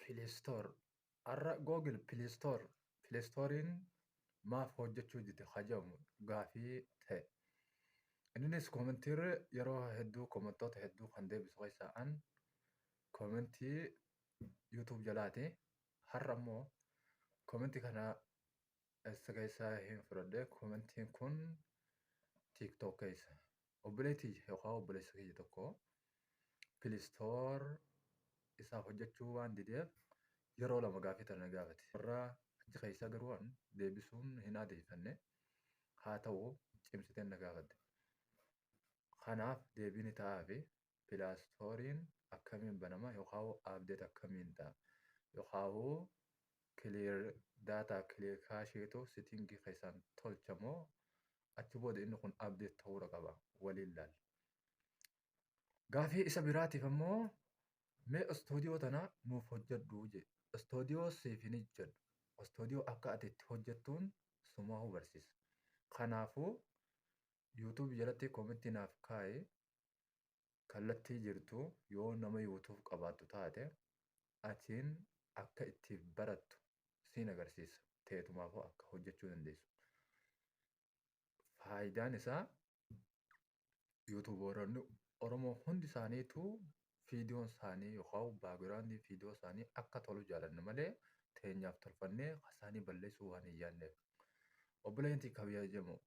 Pileestoor Har'a Google Pileestoor Pileestooriin maaf hojjechuu dide ka jedhamu gaafii ta'e. Inninis koomentiin yeroo hedduu koomentoota hedduu kan deebisu keessaa an koomentii YouTube jalaati. Har'a immoo koomentii kana eessa keessaa hin fudhadhe koomentiin kun TikTok keessa. obboleetti yookaan obboleessa keenya tokko pilistoor isaaf hojjechuu waan dideef yeroo lama gaafii tana na gaafate. Warra achi keessaa garuu an deebisuun hin aadeffanne haa ta'u cimsiteen na gaafadhe. Kanaaf deebiin ta'aafi pilaastoorin akkamiin banama yokaahu update akkamiin ta yokaahu clear data clear cache tu sitting keessaan tolcha moo achi booda inni kun update ta'uudha qaba waliin laal gaafii isa biraatiif ammoo mee istoodiyoo tana nuuf hojjedhu je istoodiyoo siif hin hojjedhu istoodiyoo akka ati itti hojjettuun sumaahuu barsiisa kanaafuu yuutuubii jalatti koomitti naaf kaa'i kallattii jirtu yoo nama youtube qabaattu taate atiin akka itti barattu siin agarsiisa teetumaafuu akka hojjechuu dandeessu faayidaan isaa yuutuubooronni oromoo hundi isaaniitu fiidiyoon isaanii yookaan baagiraandii fiidiyoo isaanii akka tolu jaalanna malee teenyaaf tolfannee kasaanii balleessuu waan hin yaadneef obboleetti kabajamoo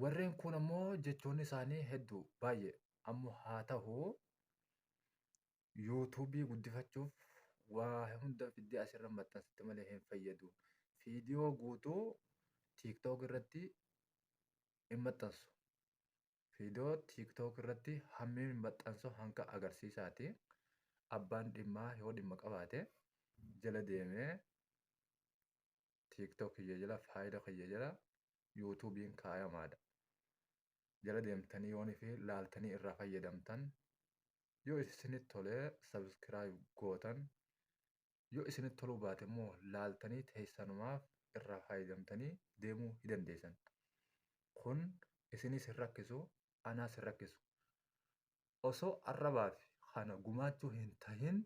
Warreen kuun ammoo jechoonni isaanii hedduu baay'ee ammoo haa tahu yuutuubii guddifachuuf waa hunda fiddee asirra maxxansitti malee hin fayyadu. Fiidiyoo guutuu tiiktook irratti hin maxxansu. Fiidiyoo tiiktook irratti hammeen hin maxxansu hanga agarsiisaati. Abbaan dhimmaa yoo dhimma qabaate jala deemee tiktok kiyya jala faayida kiyya jala yuutuubiin kaayamaadha jala deemtanii yoon fi laaltanii irraa fayyadamtan yoo isinit tolee subscribe gootan yoo isinit toluu baate immoo laaltanii teessanumaaf irraa fayyadamtanii deemuu hidandeessan kun isinis hin rakkisu anaas hin rakkisu. Osoo arrabaaf kana gumaachuu hin tahin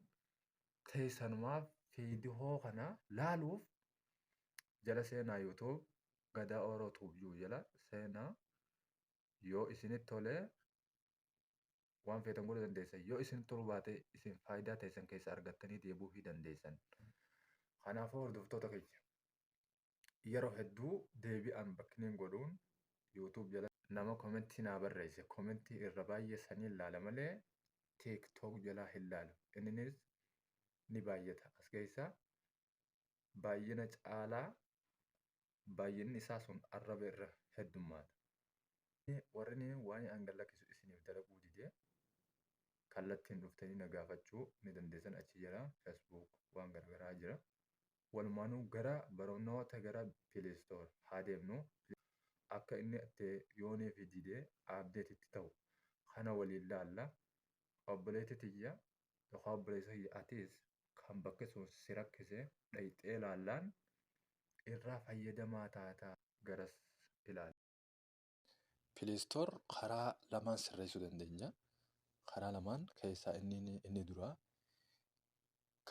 teessanumaaf fiidihoo kana laaluuf jala seenaa YouTube Gadaa Oro Tube jiru jala seenaa yoo isinitti tolee waan feetan godhuu dandeessan yoo isin toluu baatee isin faayidaa teessan keessa argattanii deebi'uu hin dandeessan. Kanaafuu hordoftoota keenya yeroo hedduu deebii unboxning godhuun youtube jala nama komentii naa barreesse komentii irra baay'ee saniin laala malee tiktok jalaa hin laalu inninis ni baay'ata as keessa baay'ina caalaa baay'inni isaa sun arraba irra heddummaata. Warrini waan an gad lakkisu isiniif dalaguu dide kallattiin dhuftanii na gaafachuu ni dandeessan achi jala facebook waan garagaraa jira Walumaanu gara barnoota gara play store haa deemnu akka inni itti yoo nuuf dide update itti ta'u kana waliin laalla obboleetti tiyya yookaan obboleessa kiyya atis kan bakki sun si rakkise dhayxee laallaan irraa fayyadamaa taata garas ilaali. Pileestoor karaa lamaan sirreessuu dandeenya. Karaa lamaan keessaa inni inni duraa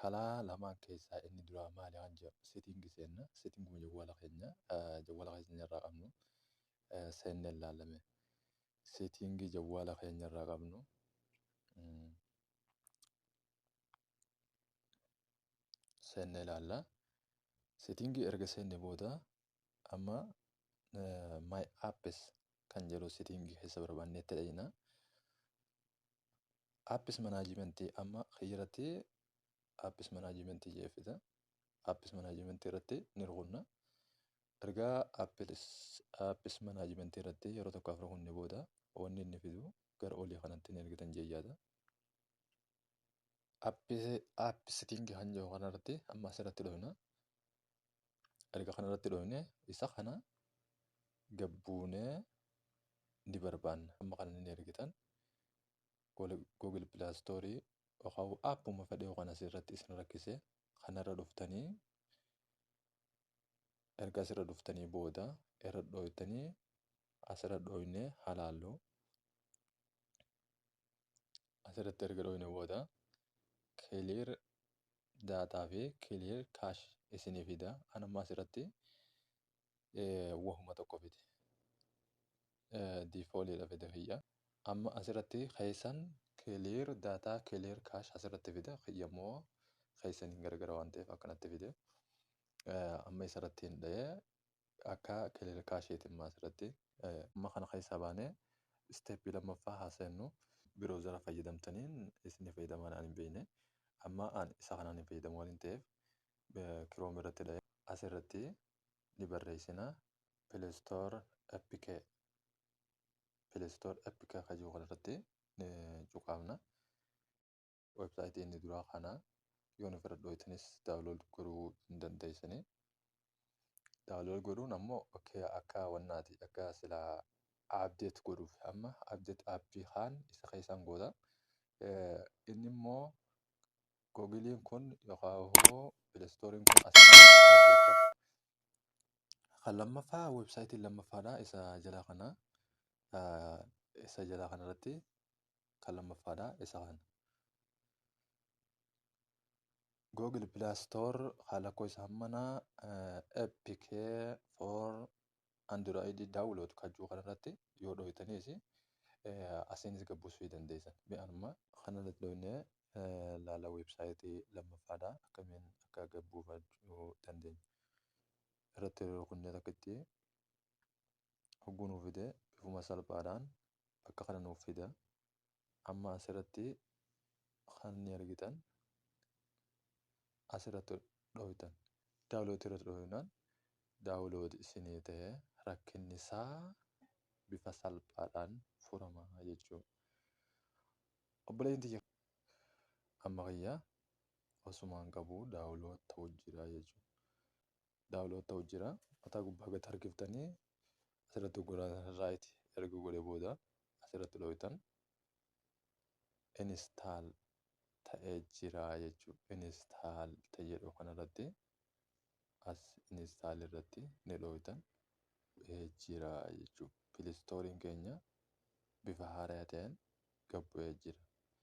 karaa lamaan keessaa inni duraa maali waan jedhu seetiingi seenna. Seetiinguma jawwaala keenya jawwaala keenya irraa qabnu seennee ilaalame. Seetiingii jawwaala keenya irraa qabnu seennee ilaalla. Seetiingii erga seenne booda amma eh, my apps kan jedhu setting keessa barbaannetti dhaqna. Apps management amma kiyyaratti apps management jee fida. Apps management irratti ni rukunna. Ergaa apps apps management irratti yeroo tokko afur kunne booda wanni inni fidu gara olii kanatti ni argitan jee yaada. Apps app setting kan jedhu kanarratti amma asirratti dhufna. erga kana irratti dhoofne isa kana gabbuunee ni barbaanna amma kana ni ergitan google play store yookaan appuma fedhe yookaan asirratti isin rakkise kanarra dhuftanii erga asirra dhuftanii booda irra dhooytanii asirra dhooyne halaallu asirratti erga dhooyne booda clear data fi clear cash isinii fida an amma asirratti wahuma tokko fide diifooliidha fide kiyya amma asirratti keessan clear data clear cash asirratti fida kiyya immoo keessan hin gargara waan ta'eef akkanatti fide amma isarratti hin dha'ee akka kililkaa isheeti immoo asirratti. Amma kana keessaa baanee isteeppii lammaffaa haa seennu. Biroozara fayyadamtaniin isin ni fayyadamaan ani hin beekne. Amma ani isa kanaan hin fayyadamu waan ta'eef Chrome irratti dha'ee asirratti ni barreessina. Play Store APK Play Store APK akka jiru kanarratti cuqaafna. website inni duraa kana yoon ofirra dhooytanis download godhuu hin dandeessani download godhuun ammoo okay akka wannaati akka sila update godhuuf amma update app kaan isa keessaan goota Eh, inni immoo googiliin kun yookaan immoo pilestooriin kun asirratti update ta'a. Kan lammaffaa websaayitiin lammaffaadha isa jalaa kana ah, isa jalaa kanarratti kan lammaffaadha isa kana. Google Play Store kan lakkoofsa hammana APK for Android download kan jiru kanarratti yoo dhooytaniis asiinis gabbisuu dandeessan. Mee amma kanarratti dhooynee laala weebsaayitii lammaffaadha akkamiin akka gabbuufachuu dandeenya. Irratti rukunnee takkitti hogguu nuu fide bifuma salphaadhaan bakka kana nuuf fida amma asirratti kan ni argitan asirratti dhooytan daawlooti irratti dhooynaan daawlooti isinii ta'e rakkinni isaa bifa salphaadhaan furama jechuu obboleeyyin tiyya amma kiyya osumaan qabu daawloot ta'u jira jechuu daawlood ta'u jira. Mataa gubbaa gad harkiftanii asirratti hogguraan raayit erga godhe booda asirratti dhooytan instaal ta'ee jira jechuu instaal ta'e jedhu kanarratti as instaal irratti ni dhooytan bu'ee jira jechuu pilistooriin keenya bifa haaraa ta'een gabbu'ee jira.